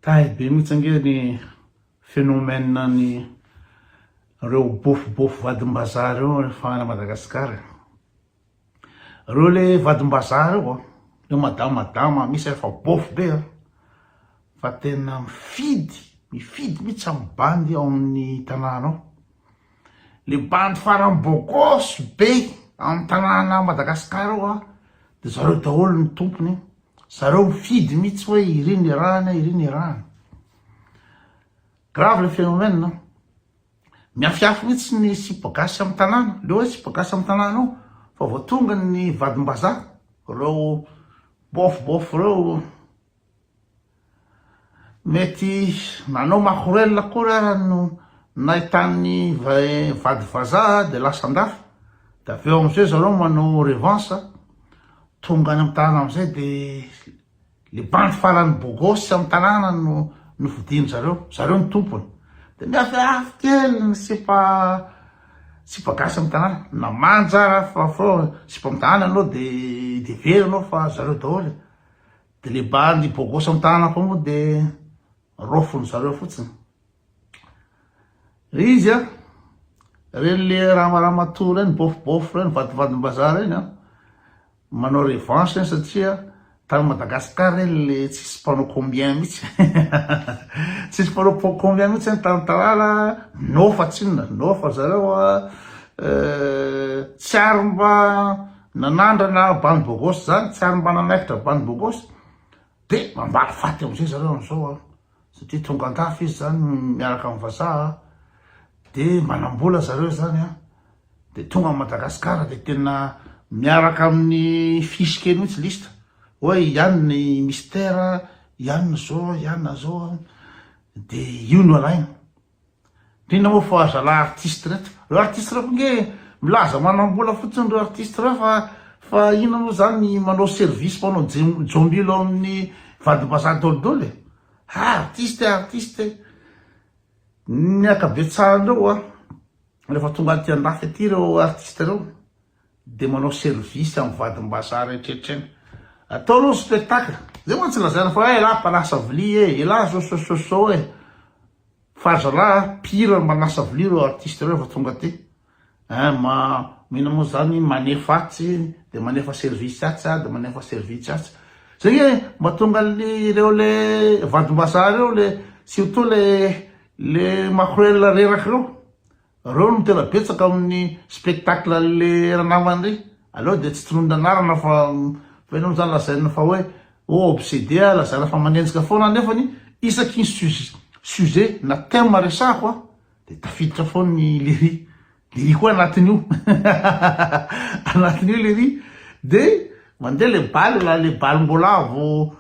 Tahy be mihitsy ange ny phénomène ny reo bofobofo vadim-bazaha reo rehefa any Madagascar e! Reo le vadim-bazaha reo a! Reo madama madama misy rehefa bofo be a! Fa tena mifidy mifidy mihitsy am bandy ao amin'ny tanàna ao! Le bandy farany bôkôsy be am tanàna Madagascar ao a! De zareo daholo no tompony. Zareo mifidy mitsy hoe iry no iarahana iry no iarahana. Grave le phénomène an. Miafiafy mitsy ny sipa gasy am tanàna, le hoe sipa gasy am tanàna ao fa vao tonga ny vadim-bazaha reo bôfobôfo reo Mety nanao makorel akory ara no nahitan'ny vady vazaha dia lasa andafy, dia avy eo amizay zareo manao revanche, tonga any amin'ny tanàna amizay dia le bandy farany beau gosse amin'ny tanàna no nofidin-dry zareo, zareo no tompony, dia miafy kely ny sipa sipa gasy amin'ny tanàna, na manja ara fa sipa amin'ny tanàna ianao dia dia very ianao fa zareo daholo e. De le bandy bogos am tanako moa de rofon zareo fotsiny le izy a reny le ramaramatoa reny bofobofo reny vadivadimbazaha reny a manao revanche reny satria tany Madagascar reny le tsisy mpanao combien mihitsy tsisy mpanao po combien mihitsy reny tany talala nofa tsinona nofa zareo a euh, tsy ary mba Nanandrana bandy bogos zany tsy ary mba nanaikitra bandy bogos de mandalo faty amzay zareo amzao a satria tonga andafy izy zany miaraka am vazaha de manambola zareo zany a de tonga am Madagascar de tena miaraka aminy fisc mihitsy liste oe iany ny Mister iany ny zao iany ny zao de io no alainy Inona moa fa zalahy artiste reto. Reo artiste reo nge milaza manambola fotsiny reo artiste reo fa fa inona moa zany ny manao service mpanao jomilo amin'ny vadimbazaha dolidoly e. Ha artiste artiste ny ankabetsahanreo a refa tonga aty andafy aty reo artiste reo de manao service amin'ny vadimbazaha rehetrretra eny. Atao reo spectacle. Zay mantsy lazaina fa elah mpanasa vilia e, elah sosososo e. Fa zala a, mpihira no manasa vilia reo artiste reo efa tonga aty eh, ma mino mo zany manefa atsy de manefa service atsy a de manefa service atsy, zay nge mba tonga le reo le vadim-bazaha reo le surtout le le makorel reraka reo Reo no tena betsaka amin'ny spectacle le ranamana ry aleo de tsy tononina anarana fa fa enao zany lazaina fa hoe oh obsede ah lazaina fa manenjika foana nefany isaky ny sujet sujet na thème resahako ah de tafiditra foana ny lery lery koa anatin'io anatin'io lery de Mandeha le bal la le bal mbolavo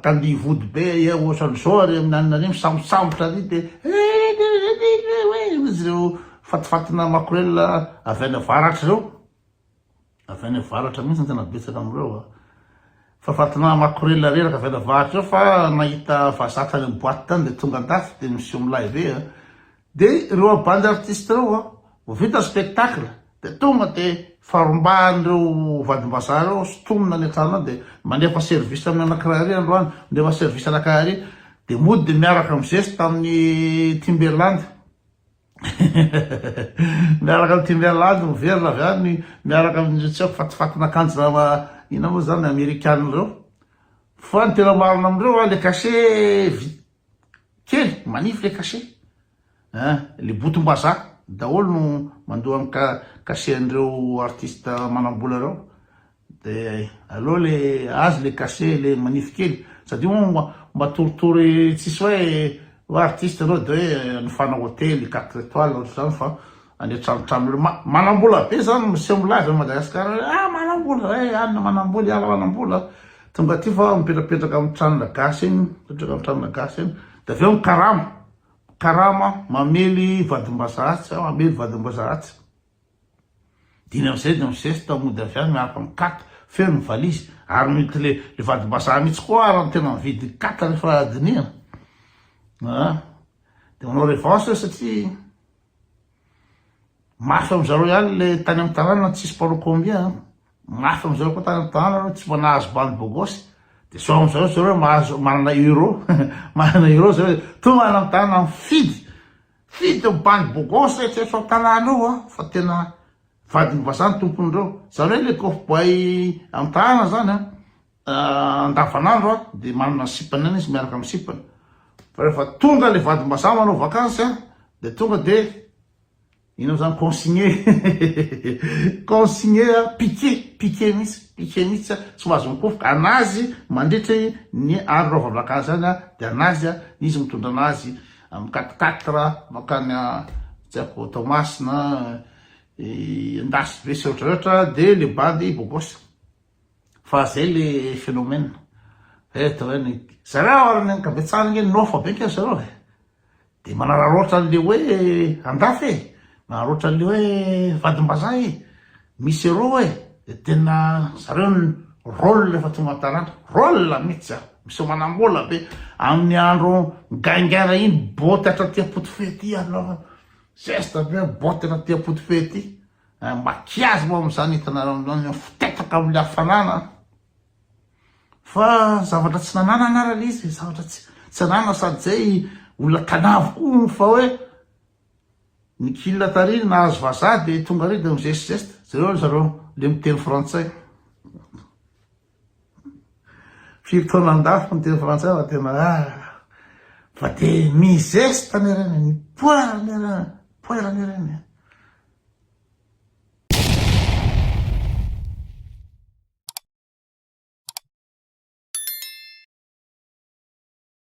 kandy vody be e ohatran zao ary amin anona re misambosambotra ary de izy reo fatifatina makorel avy any avaratra reo avy any avaratra mintsy ny tena betsaka am reo a fatifatina makorel reraka avy any avaratra reo fa nahita vazaha tany am boite tany de tonga andafy de miseho milay be a Dia ireo bandy artiste ireo vao vita spectacle dia tonga dia farimbahan'ireo vadim-bazaha ireo sontomina any an-trano any dia manefa service amin'ny anankiray ary androany, manefa service anankiray ary dia mody dia miaraka mizesta tamin'ny Timberland miaraka amin'ny Timberland miverina avy any miaraka amin'ireo tsy haiko fatifatin'akanjo na inona moa izany Amerikana ireo fa ny tena marina amin'ireo ilay cachet vita kely manify le cachet ah le botom-bazaha daholo no mandoa ny cachet an'ireo artiste manam-bola ireo de aleo le azy le cachet le manify kely sady io mba mba toritory tsisy hoe hoe artiste anao de hoe anofana hotely quatre étoiles ohatr'izany fa Any an-tranotranony hoe ma, manambola be zany no miseho milay avy any Madagascar hoe ah manambola eh, any manambola, hiala manambola, tonga aty fa mipetrapetraka amin'ny tranona gasy eny, mipetraka amin'ny tranona gasy eny, dia avy eo mikarama, mikarama, mamely vadim-bazaha tsy, mamely vadim-bazaha tsy, dia iny amin'izay dia mi-geste mody avy any miaraka amin'ny carte, feno ny valise, ary mety le, le vadim-bazaha mihitsy koa ary no tena mividy carte rehefa dinihana, ah, dia manao revanche satria. Mafy am zareo ihany le tany am tanàna tsisy mpanao combien an! Mafy am zareo koa tany am tanàna aloha tsy mba nahazo bandy bogosy de sao am zareo zareo mahazo manana euro manana euro zareo tonga any am tanàna mifidy fidy am bandy bogosy rehetra efa am tanàna ao an! Fa tena vadin'ny vazaha ny tompon'ireo! Zany hoe le coffboy am tanàna zany an! Andavanandro dia manana ny sipany any izy miaraka amin'ny sipany. Fa rehefa tonga ilay vadim-bazaha manao vakansy dia tonga dia inona moa izany consigne consigne piqué piqué mihitsy piqué mihitsy tsy mahazo mikofoka anazy mandritra ny andro raova vakansy any dia anazy izy mitondra anazy amin'ny katikatira makany tsy haiko Toamasina endasy be sy ohatraohatra dia le bandy bogosy. Fa zay le phénomène. Eh tena hoe ny zareo ary ny ankabetsahany ange nofa be ange zareo e. Dia manararaotra an'ilay hoe andafy e, manararaotra an'ilay hoe vadim-bazaha e, misy euro e. Dia tena zareo ny rôle rehefa tonga an-taranaka. Rôle mihitsy a. Miseho manam-bola be. Amin'ny andro gaingaina iny, botte hatraty am-potofehy aty aloha. Zesta be botte hatraty am-potofehy aty. Mba kiazy moa amin'izany hitanareo amin'izany an, fotetaka amin'ny hafanana an, fa zavatra tsy nanana anara ilay izy, zavatra tsy tsy ananana sady zay olona kanavy koa ny fa hoe ny kila tary nahazo vazaha dia tonga ary dia mizesizesita, jereo ry zareo le miteny frantsay. Firy taona andafy ny teny frantsay fa tena ah! Fa dia mizesta anie ireny, mipoara anie ireny, poera anie ireny.